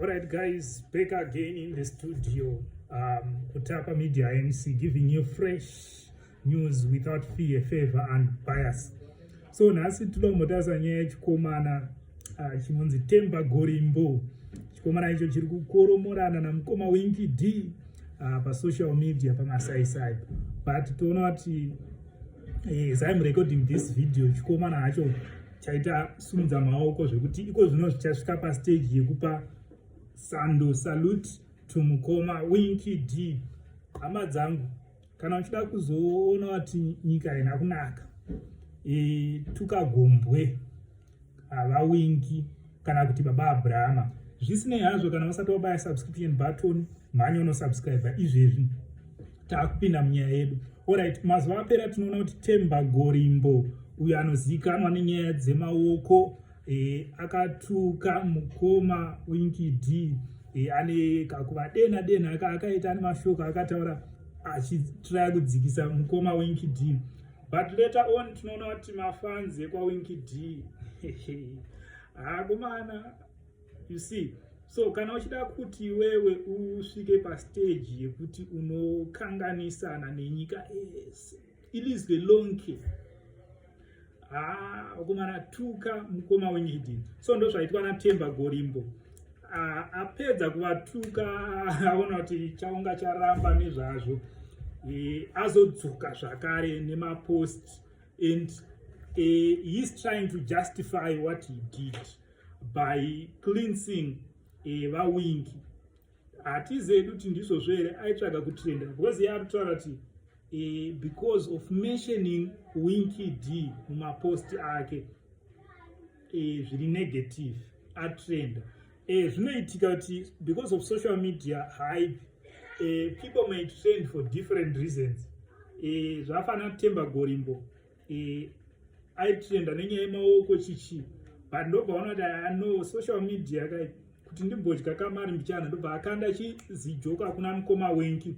Alright guys, back again in the studio. Um, Kutapa Media MC giving you fresh news without fear, favor and bias. So nhasi tinoda kumbotarisa nyaya yechikomana uh, chinonzi Temba Gorimbo. Chikomana icho chiri kukoromorana namukoma Winky D uh, pasocial media pamasaisai but toona kuti eh, as I'm recording this video chikomana hacho chaita sumudza maoko zvekuti iko zvino zvichasvika pastage yekupa sando salute to mukoma winky d hama dzangu kana uchida kuzoona wati nyika haina kunaka e, tukagombwe havawingi kana kuti baba abrahama zvisinei hazvo kana vasati wabaya subscription button mhanya unosubscribe izvezvi taakupinda munyaya yedu orit mazuva apera tinoona kuti temba gorimbo uyo anozivikanwa nenyaya dzemaoko e, akatuka mukoma winki d e, ane kakuva dena dena aka akaita ane mashoko akataura achitraya kudzikisa mukoma winki d but later on tinoona kuti mafanzi ekwawinki d haakomana you see so kana uchida kuti wewe usvike pastage yekuti unokanganisana nenyika ese it is the long care haa ukumana tuka mukoma wenyidi so ndo zvaitwa natemba gorimbo apedza kuvatuka aona kuti chaunga charamba nezvazvo e, azodzoka zvakare nemapost and e, he is trying to justify what he did by cleansing eh, vawingi hatize edu kuti ndizvo zvere aitsvaga kutrenda because ye ari kutaura kuti eh, because of mentioning winky d mumapost ake eh, zviri negative atrenda eh, zvinoitika kuti because of social media hype eh, people may trend for different reasons eh, zvafanira kutemba gorimbo e, aitrenda nenyaya yemaoko chichi but ndobva ona kuti ano social media kai kuti ndimbodya kamari mbichana ndobva akanda chizijoko akuna mukoma winki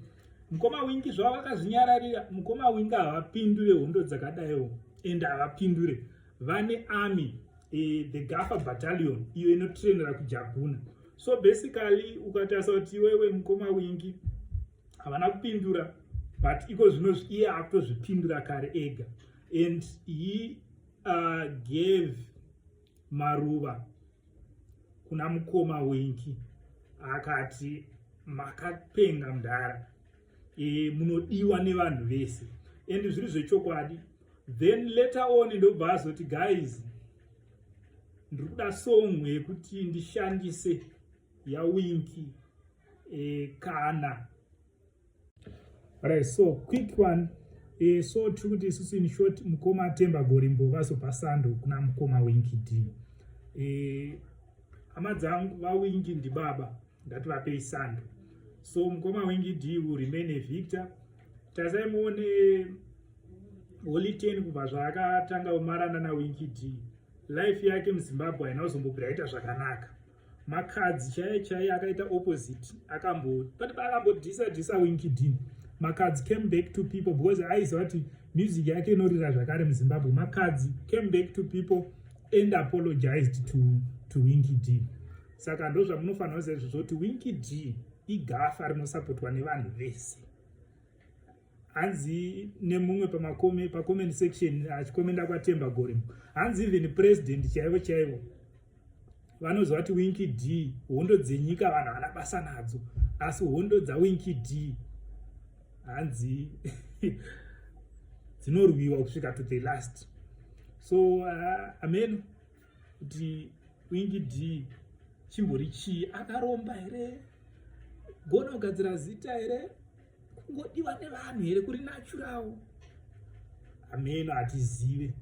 mukoma winki zvavo vakazvinyararira mukoma winki havapindure hondo dzakadaiwo and havapindure vane army e, the gafa battalion iyo inotrainera kujaguna so basically ukatarisa kuti iwewe mukoma wingi havana kupindura but iko zvino iye akutozvipindura kare ega and he uh, gave maruva kuna mukoma wenki akati makapenga mdhara e, munodiwa nevanhu vese and zviri zvechokwadi then later on ndobva azoti guys ndiri kuda song yekuti ndishandise yawinki e, kana right so quick one e, so tiri kuti isusu in short mukoma atemba gorimbo vazopa sando kuna mukoma wingi d e, hama dzangu vawingi ndibaba ndati vapei sando so mukoma wingi d will remain a victor tasai muone holy ten kubva zvaakatanga umarana nawingi d life yake muzimbabwe haina kuzombobvira aita zvakanaka makadzi chaiye chaiye akaita opposite akambo but akambodhisa dhisa winkidin makadzi came back to people because aiziva kuti music yake inorira zvakare muzimbabwe makadzi came back to people and apologized to, to winky d saka ndo zvamunofanira kuziva izvozvo kuti winky d igafa rinosapotwa nevanhu vese hanzi nemumwe pamakome pacomment section achikomenda kwatemba gorimo hanzi even president chaivo chaivo vanoziva kuti winki d hondo dzenyika vanhu havana basa nadzo asi hondo dzawinki d hanzi dzinorwiwa kusvika to the last so uh, ameno kuti winki d chimbori chii akaromba here gona kugadzira zita here kungodiwa nevanhu here kuri nachurawo ameno hatizive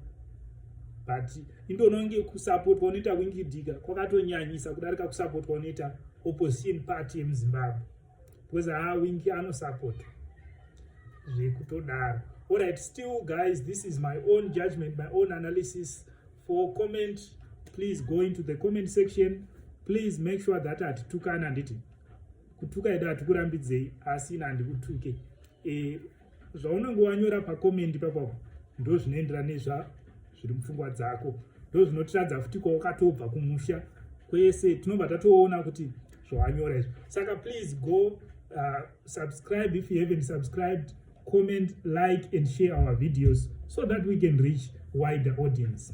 but indononge kusapotwa unoita wingidika kwakatonyanyisa kudarika kusapotwa unoita opposition party yemuzimbabwe because haa wingi anosapotwa zvekutodaro allright still guys this is my own judgment my own analysis for comment please go into the comment section please make sure that hatitukani handiti kutuka ida hatikurambidzei asi ina handikutuke e, zvaunenge wanyora pakomendi papapo ndo zvinoenderana nezva zviri mupfungwa dzako ndo zvinotiradza futi kwawakatobva kumusha kwese tinobva tatoona kuti zvawanyora izvo saka please go uh, subscribe if you haven't subscribed comment like and share our videos so that we can reach wider audience